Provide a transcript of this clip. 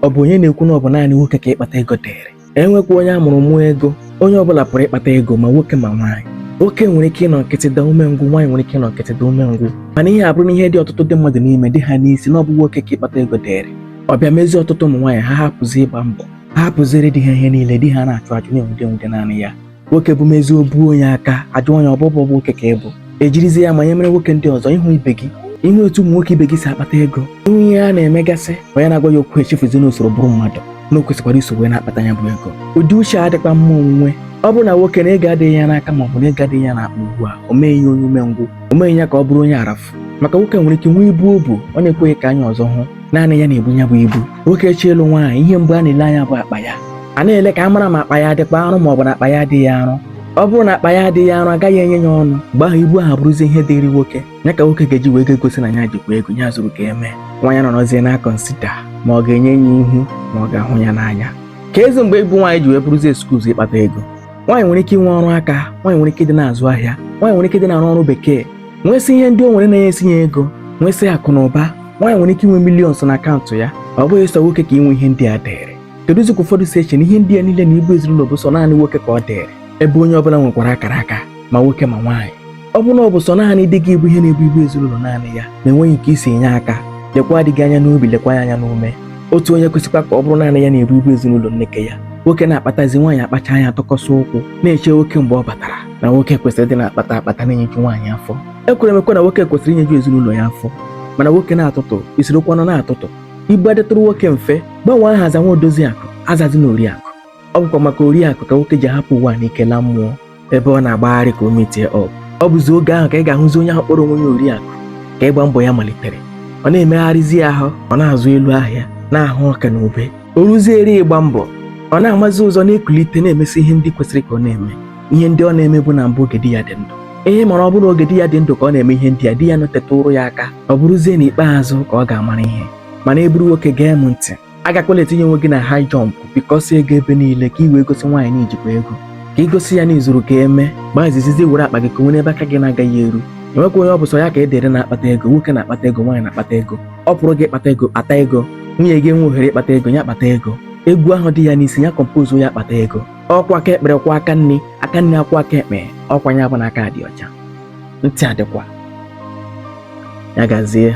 ọ bụ onye na-ekwu na ọ bụ naanị nwoke ka ịkpata ego dịrị enwekwa onye a mụrụ mụọ ego onye ọbụla pụrụ ịkpata ego ma nwoke ma nwaanyị nwoke nwere ike ịnọ nkịtị daa umengwụ nwaanyị nwere ike ịnọ nkịtị daa umengwụ mana ihe abụrụ na ihe dị ọtụtụ ndị mmadụ n'ime dị ha n'isi na ọ bụ nwoke ka ịkpata ego dịrị ọ bịa mezie ọtụtụ ụmụ nwaanyị ha hapụzi ịgba mbọ ha hapụziere di ha ihe niile di ha na-achụ achụ na-enwude enwude naanị ya nwoke bụ mezi obu onye aka ajụ onye ọbụbụ bụ nwoke ka ị bụ ejirizie ya ma nye mere nwoke ndị ọzọ ị hụ ibe gị ị hụ etu ụmụ nwoke ibe gị si akpata ego ị hụ ihe a na-emegasị onye na-agwa ya okwu echefuzi na o soro bụrụ mmadụ na o kwesịkwara iso wee na-akpata ya bụ ego ụdị uche a dịkwa mma onwunwe ọ bụrụ na nwoke na ego adịghị ya n'aka ma ọ bụ na ego adịghị ya n'akpa ugbu a o meghị ya onye umengwụ o meghị ya ka ọ bụrụ onye arafu maka nwoke nwere ike nwee ibu o bu ọ na-ekweghị ka anya ọzọ hụ naanị ya na-ebu ya bụ ibu nwoke chọọ ịlụ nwaanyị ihe mbụ a na-ele anya bụ akpa ya a na-ele ka a mara ma akpa ya adịkwa arụ ma ọ bụ na akpa ya adịghị arụ ọ bụrụ na akpa ya adịghị arụ agaghị enye ya ọnụ mgbe ahụ ibu ahụ abụrụzi ihe dịrị nwoke ya ka nwoke ga-eji wee ga-egosi na ya jikwa ego ya zuru ka eme nwaanyị anọrọzie na-akọnsida ma ọ ga-enye ya ihu ma ọ ga-ahụ ya n'anya keezi mgbe ịbụ nwaanyị ji wee bụrụzi excuse ịkpata ego nwaanyị nwere ike inwe ọrụ aka nwaanyị nwere ike ịdị na-azụ ahịa nwaanyị nwere ike ịdị na-arụ ọrụ bekee nwesị ihe ndị o nwere na-enyesi ya ego nwesị akụ na ụba nwaanyị nwere ike inwe millions na akaụntụ ya ọ bụghị sọ nwoke ka inwe ihe ndị a dịrị keduzi ka ụfọdụ si eche na ihe ndị a niile na ibu ezinụlọ bụ sọ naanị nwoke ka ọ dịrị ebe onye ọbụla nwekwara akara aka ma nwoke ma nwaanyị ọ bụrụ na ọ bụ sọ naanị di gị bụ ihe na-ebu ibu ezinụlọ naanị ya na-enweghị nke i si enye aka lekwaa di gị anya n'obi lekwa ya anya n'ume otu onye kwesịkwa ka ọ bụrụ naanị ya na-ebu ibu ezinụlọ nneke ya nwoke na-akpatazi nwaanyị akpacha anya tụkọsị ụkwụ na-eche nwoke mgbe ọ batara na nwoke kwesịrị ịdị na-akpata akpata na-enyeju nwaanyị afọ ekwere m ekwe na nwoke kwesịrị inyeju ezinụlọ ya afọ mana nwoke na-atụtụ i sorokwanụ na-atụtụ ibu adịtụrụ nwoke mfe gbanwee aha zawa odozi akụ azazina oriakụ ọ bụkwa maka oriakụ ka nwoke ji ahapụ ụwa n'ike laa mmụọ ebe ọ na-agbagharị ka o metie ọ ọ bụzi oge ahụ ka ị ga-ahụzi onye ahụ kpọrọ onwe ya oriakụ ka ịgba mbọ ya malitere ọ na-emegharịzi ahụ ọ na-azụ elu ahịa na-ahụ ọka na ube o ruziere ịgba mbọ ọ na-amazi ụzọ na-ekulite na-emesi ihe ndị kwesịrị ka ọ na-eme ihe ndị ọ na-emebu na mbụ oge di ya dị ndụ ihe mara ọ bụrụ oge di ya dị ndụ ka ọ na-eme ihe ndị a di ya anọtetụrụ ya aka ọ bụrụzie n'ikpeazụ ka ọ ga-amara ihe mana ị bụrụ nwoke gee m ntị agakwala etinye onwe gị na high jump bikọsi ego ebe niile ka ị wee gosi nwaanyị na i jikwa ego ka i gosi ya na i zuru ka eme gbaa izizizi were akpa gị kowe n'ebe aka gị na-agaghị eru enwekwa onye ọ bụ sọ ya ka e dere na-akpata ego nwoke na-akpata ego nwaanyị na-akpata ego ọ pụrụ gị ịkpata ego kpata ego nwunye gị enwe ohere ịkpata ego ya kpata ego egwu ahụ dị ya n'isi ya compose ya kpata ego ọkwa aka ekpe kwọọ aka nni aka nni akwọọ aka ekpe ọkwa ya bụ na aka adị ọcha ntị adịkwa ya gazie